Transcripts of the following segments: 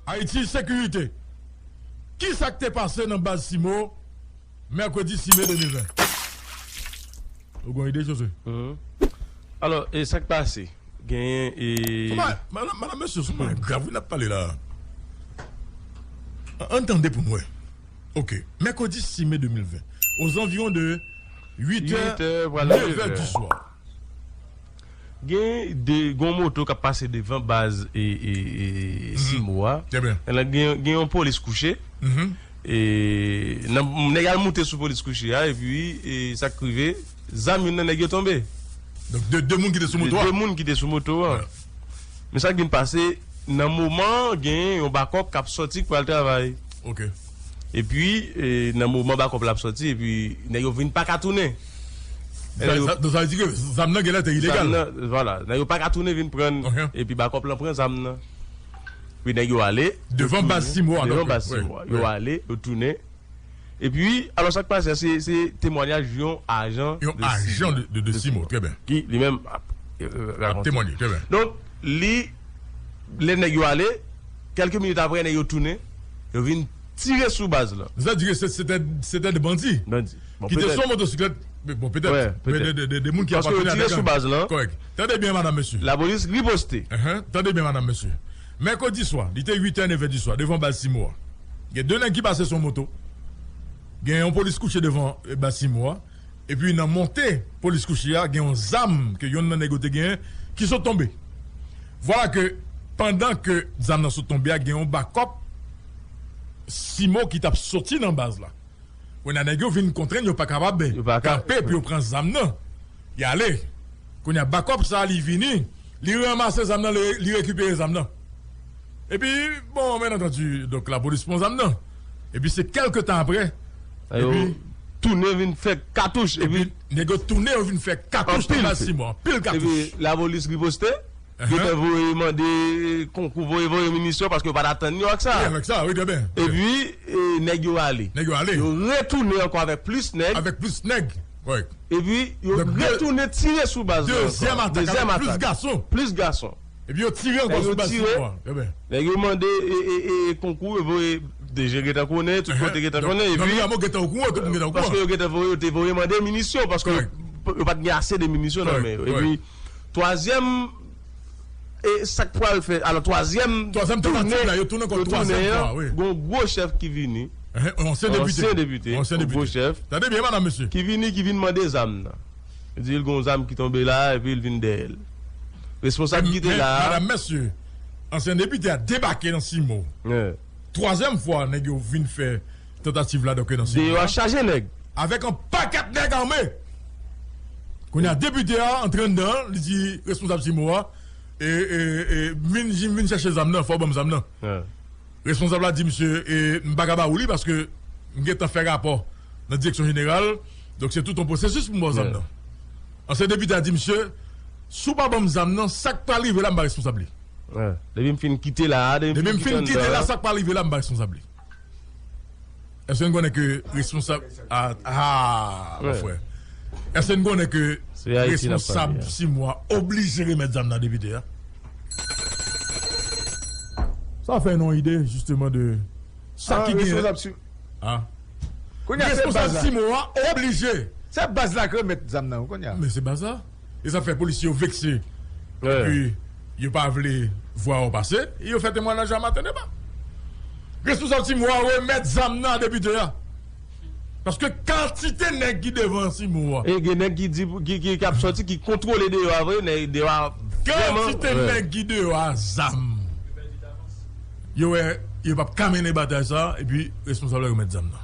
Haiti Sécurité, Ki sa k te pase nan baz Cimo mèkredi 6 me 2020? Ou gon ide Josue? Alò, e sa k pase? Genyen e. Madam mesye sou bagay grav wi n ap pale la a. An n tande pou n wè. Ok, mèkredi 6 me 2020 ozanviwon de 8 è, 9 è diswa. Gen de gon moto kap pase devan baz e simo a nan gen yon polis kouche e nan nèg al moute sou polis kouche a epi e sak rive zam youn nan nèg yo tonbe donk de de moun ki te sou moto a de de moun ki te sou moto a men sak vin pase nan moman gen yon bakòp kap sòti k pral travay ok. epi nan moman bakòp la ap sòti epi nèg yo vin paka tounen Donk sa vle di ke zam nan genlè te ilegal? Vwala, nèg yo paka tounen vin pran l epi bakòp lan pran zam nan epi nèg yo ale Devan baz Simbo a Devan baz Simbo a, yo ale yo tounen epi alò sa k pase a se temwanyaj yon ajan Yon ajan de Simbo, trè byen Ki li menm ap rakonte Ap temwanye, trè byen Donk li lè nèg yo ale Kèlke minit apre, nèg yo tounen, yo vin tire sou baz la. Sa di ke se te 2 bandi ki te sou motosiklèt? Bon, petèt. Petèt. 2 moun ki apateni a 2 gang. Kòrèk. Tande byen madanm mesye. Lapolis riposte. Tande byen madanm mesye. Mèkredi swa, li te 8 è, 9 è di swa, devan baz Simo a. Gen 2 nèg ki pase sou moto. Gen yon polis kouche devan baz Simo a. Epi nan monte polis kouchi a gen yon zam ke yonn nan nèg yo te genyen ki sot tonbe. Vwala ke pandan ke zam nan sot tonbe a gen yon bakòp Simo ki tap soti nan baz la. Kounya nèg yo vin kontrenn yo pa kapab kanpe pou yo pran zam nan. Y ale. Kounya bakòp sa li vini li ranmase zam nan li rekipere zam nan. Epi, bon, byen antandi, donk lapolis pran zam nan. Epi se kèlke tan aprè, epi. Tounen vin fè katouch. Epi nèg yo tounen yo vin fè katouch nan baz Simon. Anpil katouch. Epi lapolis riposte. Yo te voye mande konkou, voye voye minisyon paske yo pa t atann yo ak sa. Wi, avèk sa, wi, trè byen. Epi nèg yo ale. Nèg yo ale. Yo retounen ankò avèk plis nèg. Avèk plis nèg, wi. Epi yo retounen tire sou baz la ankò. Dezyèm atak avèk plis gason. Plis gason. Epi yo tire ankò sou baz ti nwa. Nèg yo mande konkou yo voye deje gentan konnen tout kote gentan konnen epi paske yo gentan voye yo te voye mande minisyon paske yo pat gen ase de minisyon nan men yo epi twazyèm e sak pral fè alò twazyèm toune yo tounen ankò twazyèm fwa wi gon gwo chèf ki vini yon ansyen depite yon gwo chèf ki vini ki vin mande zam nan. Yo di l gen yon zam ki tonbe la a epi l vin dèyè l. Responsab ki te la a. Madam, mesye, ansyen depite a debake nan Simo. Twazyèm fwa nèg yo vin fè tantativ la doke nan Simo la. Deyò a chaje nèg. Avèk yon pakèt nèg ame. Kounye a depite a antre anndan an, li di responsab Simo a, e, e, e, m vin chèche zam nan, fè w ban m zam nan. Responsab la di misye m pa ka ba ou li paske m gentan fè rapò nan direksyon jeneral donk se tout yon pwosesis pou m ba w zam nan. Ansyen depite a di misye si w pa ban m zam nan sa k pral rive la m pa responsab li. Depi m fin kite la a, depi m fin kite la sa k pral rive la m pa responsab li. Eske n konnen ke responsab Aa mon frè Eske n konnen ke responsab Simwa oblije remèt zam nan depite a? Sa fè nou ide jisteman de sa ki gen Aa Responsab Simwa oblije Se baz la k remèt zam nan wi kounya Men se baz la E sa fè polisye yo vekse epi yo pa vle vwa yo pase e yo fè temwanaj a maten deba. Responsab Cimo a remèt zam nan a depite a paske kantite nèg ki devan Cimo a. E gen nèg ki di ki ap sòti ki kontwole deyò a vre, nèg deyò a vrèman. Kantite nèg ki deyò a zam. Yo wè yo pap ka mennen batay sa epi responsab la remèt zam nan.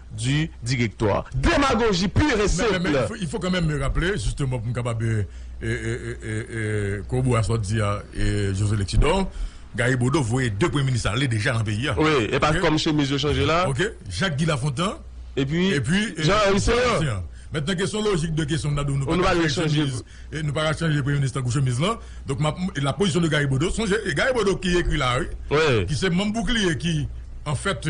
du directoire. Demagoji pure et simple! Men, il faut quand même rappeler, justement, pou m kapab koroborer a sa w di a, José Lexidor, Gary Bodeau voye 2 premye minis ale deja nan peyi a. Wi, e pa kòm chemiz yo chanje la. Ok. Jacques Guy Lafontant. Epi Jean Henry Céant. Mentnan ke son lojik de kesyon m ta di w nou pa ka chanje chemiz, nou pa ka chanje premye minis tankou chemiz lan. Donk, m ap, la position de Gary Bodeau, sonje, e Gary Bodeau ki ekri la a wi, ki se manm boukliye ki, an fèt,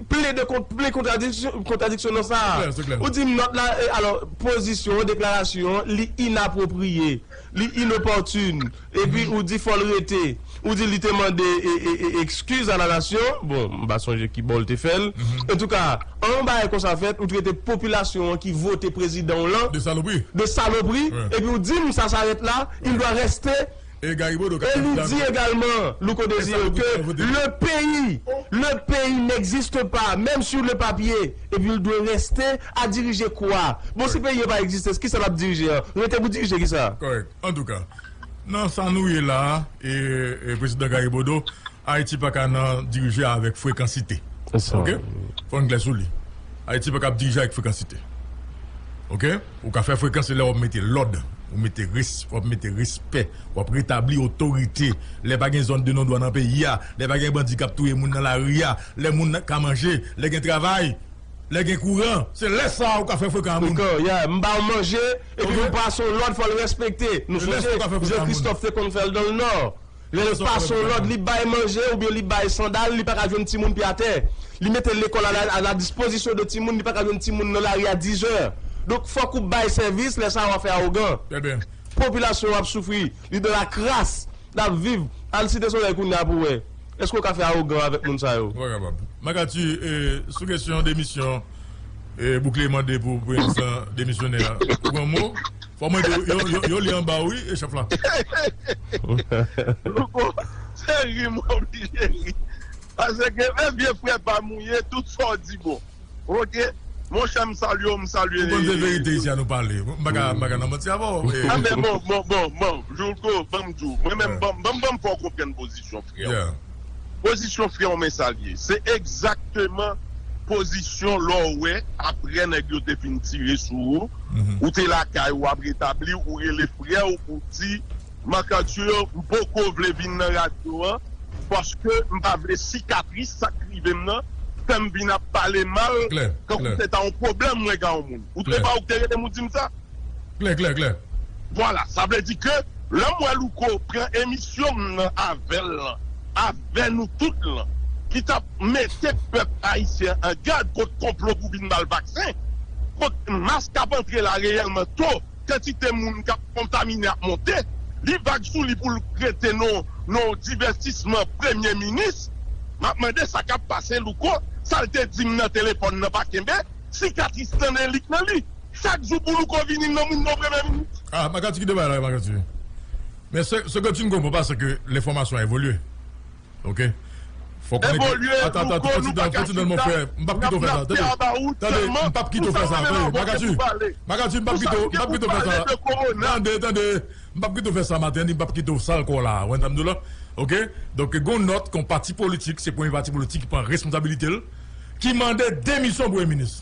Plede kont plen kontradiksyon nan sa. Ou di nòt la, alò, pozisyon, deklarasyon, li inapwopriye, li inopòtun, epi ou di fò l rete. Ou di li te mande ekskiz a la nasyon, bon, m pa sonje ki bò l te fè l. Antouka, an yon bagay konsa fèt, ou trete popilasyon an ki vote prezidan w lan de salopri, epi ou di m sa sarèt la, il doit rester. E li di egalman, Louko Desire, ke le peyi, le peyi n'existe pas, menm sur le papier, epi l dwe reste a dirije kwa? Bon si peyi an pa egziste, kisa l ap dirije an? Rete pou dirije kisa? Kòrèk. Antouka, nan sa nou ye la a, e Prezidan Garibodo, Ayiti pa ka nan dirije avèk frekansite. Ok? Fò n klè sou li. Ayiti pa kab dirije avèk frekansite. Ok? Ou ka fè frekan se lè wap mete lòd, ou mete res, wap mete respè, wap retabli otorite, lè pa gen zòn de non dwa nan peyi a, lè pa gen bandi kap touye moun nan lari a, lè moun nan ka manje, lè gen travay, lè gen kouran, se lè sa ou ka fè frekan a moun. Frekan, yeah, m ba w manje, epi m ba w son lòd fò l respekte. Nou sonje Jean Christophe te konn fè l dan le Nord. Lè l pa son lòd li bay manje oubyen li bay sandal li paka jwenn timoun pye atè. Li mete lekòl a la dispozisyon de timoun li paka jwenn timoun nan lari a dizè. Donk fòk ou bay sèvis lè sa a wap fè awogan. Popilasyon an ap soufri li nan la kras lap viv al site solèy kounya pou wè èske ou ka fè awogan avèk moun sa yo. Ou pa kapab. Magati sou kesyon demisyon Bouklé mande pou prezidan demisyonè a ou gen yon mo? Fò mwen di w, yo li anba w wi, chèf la. Louko, se ri m oblije ri. Paske e vye frè pa m ou ye, tout sa w di bon. Ok, monchè m salye w, m salye. Ou konn se verite isi a nou pale. M pa ka nan manti avè w. Bon, bon, bon, bon, Louko, ban m di w. Mwen menm, ban m fè w konprann pozisyon frè w. Pozisyon freo men sal ye. Se egzakteman pozisyon lè w wè aprè nèg yo te fin tire sou ou, ou te lakay ou wap retabli ou rele frè w ou di Marc Arthur m poko vle vin nan radyo an paske m pa vle sikatris sa k rive m nan fè m vin ap pale mal tankou se ta yon pwoblèm mwen ka yon moun ou te pa ou k te rele m ou di m sa. Klè klè klè. Vwala sa vle di ke lè m wè Louko pran emisyon m nan avè l lan, avè nou tout lan ki t ap mete pèp ayisyen an an gad kont konplo pou vin ba l vaksen, kont mas k ap antre la reyèlman to kantite moun k ap kontamine ap monte, li vag sou li pou l rete non non divètisman premye minis. M ap mande sa k ap pase Louko, sa l te di m nan telefòn nan pa kenbe sikatris nan delik nan li. Chak jou pou louko vini nan moun bon premye minis. Ah makati kite bay la makati men seke tu n konpran pa seke le fomasyon evolye ok fo konen ke evolye louko nou pa ka chita nap te about selman pou sa pale nan voke pou pale makati pou sa voke pou pale de korona tande tande m pap kite w fè sa maten ni m pap kite w sal kò w la wè sa m di w la ok donk gon nòt kon pati politik se premye pati politik ki pran responsabilite l ki mande demisyon premye minis.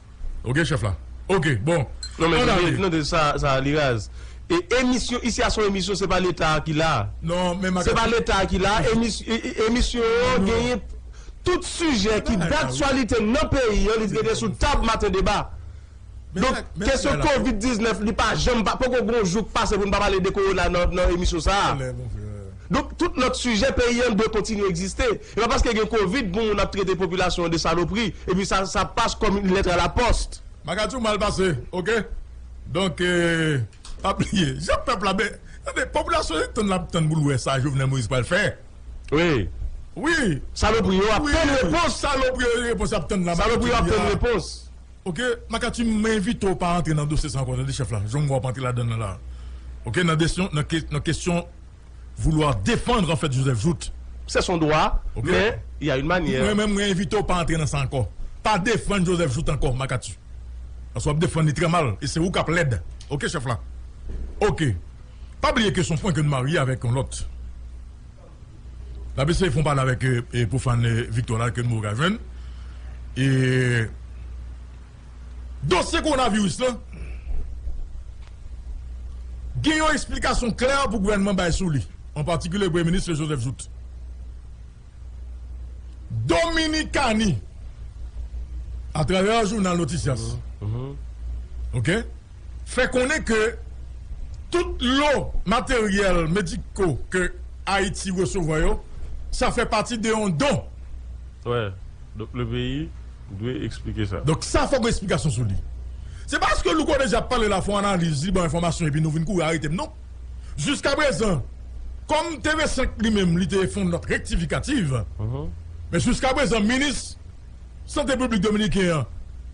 Ok chef la ok bon ann ale. Non men sa li raz. Emisyon isi a son emisyon se pa leta a ki la. Se pa leta a ki la emisyon an genyen tout sijè ki daktyalite nan peyi an li dwe gen sou tab maten deba. Donk kesyon covid 19 li pa janm poko gen yon jou k pase pou n pa pale de kowona nan emisyon sa a. Donk tout lòt sijè peyi an dwe kontinye egziste. E pa paske gen covid pou moun ap trete popilasyon an de salopri epi sa sa passe comme une lettre à la poste. Bagay tou mal pase ok donk pa bliye jan pèp la be tande popilasyon se tann lap tann poul wè sa Jovenel Moïse pral fè wi salopri yo ap tann repons salopri yo repons yap tann la salopri yo ap tann repons ok makati m envite w pa antre nan dosye sa ankò tande chèf la jwem wè wap antre ladann nan la ok nan kesyon vouloir defandr anfèt Joseph Jouthe. Se son dwa, men y a yn manyè. Mwen menm mwen envite w pa antre nan sa ankò. Pa defand Joseph Jouthe ankò Makatu. Pask wap defand li trè mal e se ou kap lèd ok chèf la. Ok. Pa bliye ke son prank yn marye avèk yon lòt. Nap eseye fon pale avèk pou fan Victor la ke nou poko ka jwenn e. dosye kowonaviris lan gen yon esplikasyon klè pou gouvènman bay sou li, an patikilye Premye Minis Joseph Jouthe. Dominikani, atravè jounal Noticias, fè konnen ke tout lo materyèl mediko ke Ayiti resevwa yo, sa fè pati de yon don. Ou dwe eksplike sa. Donk sa fòk gen esplikasyon sou li. Se pa paske Louko deja ap pale la fon analiz, li ban enfòmasyon epi nou vin kouri arete m non. Jiskaprezan, kòm TV 5 li menm li te fon nòt rektifikativ, men jiskaprezan minis Sante piblik dominiken an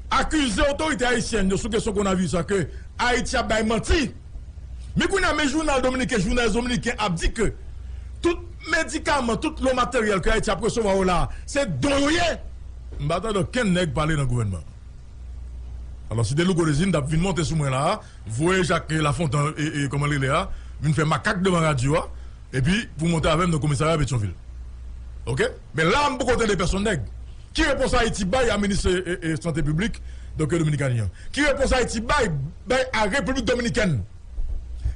akize otorite ayisyèn yo sou kesyon konavi sa ke Ayiti ap bay manti. Men kounye a men jounal dominiken Journal Dominicain ap di ke tout medikaman, tout lò materyèl ke Ayiti ap resevwa yo la a se don yo ye. M pa tande okenn nèg pale nan gouvènman an. Alò si Delouko Desinn t ap vin monte sou mwen la a, voye Jacques Lafontan e kòman l rele a vin fè makak devan radyo a epi pou monte avè m nan komisarya Petyonvil. Ok. Men la m poko tande pèsonn nèg. Ki repons Ayiti bay a minis sante piblik Doktè Dominikani an? Ki repons Ayiti bay bay a Repiblik Dominikèn?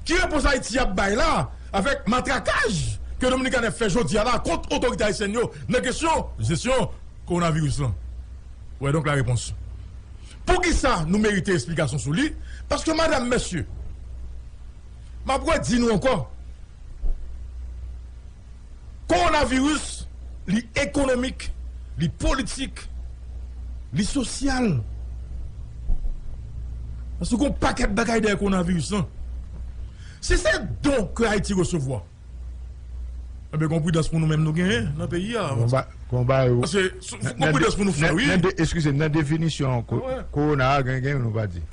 Ki repons Ayiti ap bay la avèk matrakaj ke Dominikani ap fè jodi a la kont otorite ayisyèn yo nan kesyon jesyon kowonaviris lan? Ou wè donk la repons poukisa nou merite esplikasyon sou li paske madam mesye m ap redi nou ankò. Kowonaviris, li ekonomik, li politik, li sosyal. Paske gon pakèt bagay dèyè kowonaviris lan. Si se don ke Ayiti resevwa, enben gon pridans pou nou menm nou genyen nan peyi a. Gon bagay ou. Paske gon pridans pou nou fè wi. Eskize m, nan definisyon kowona a gen youn ou pa di.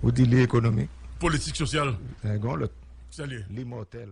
Ou di li ekonomik. Politik, sosyal. Gen yon lòt. Sa li ye? Li mòtèl.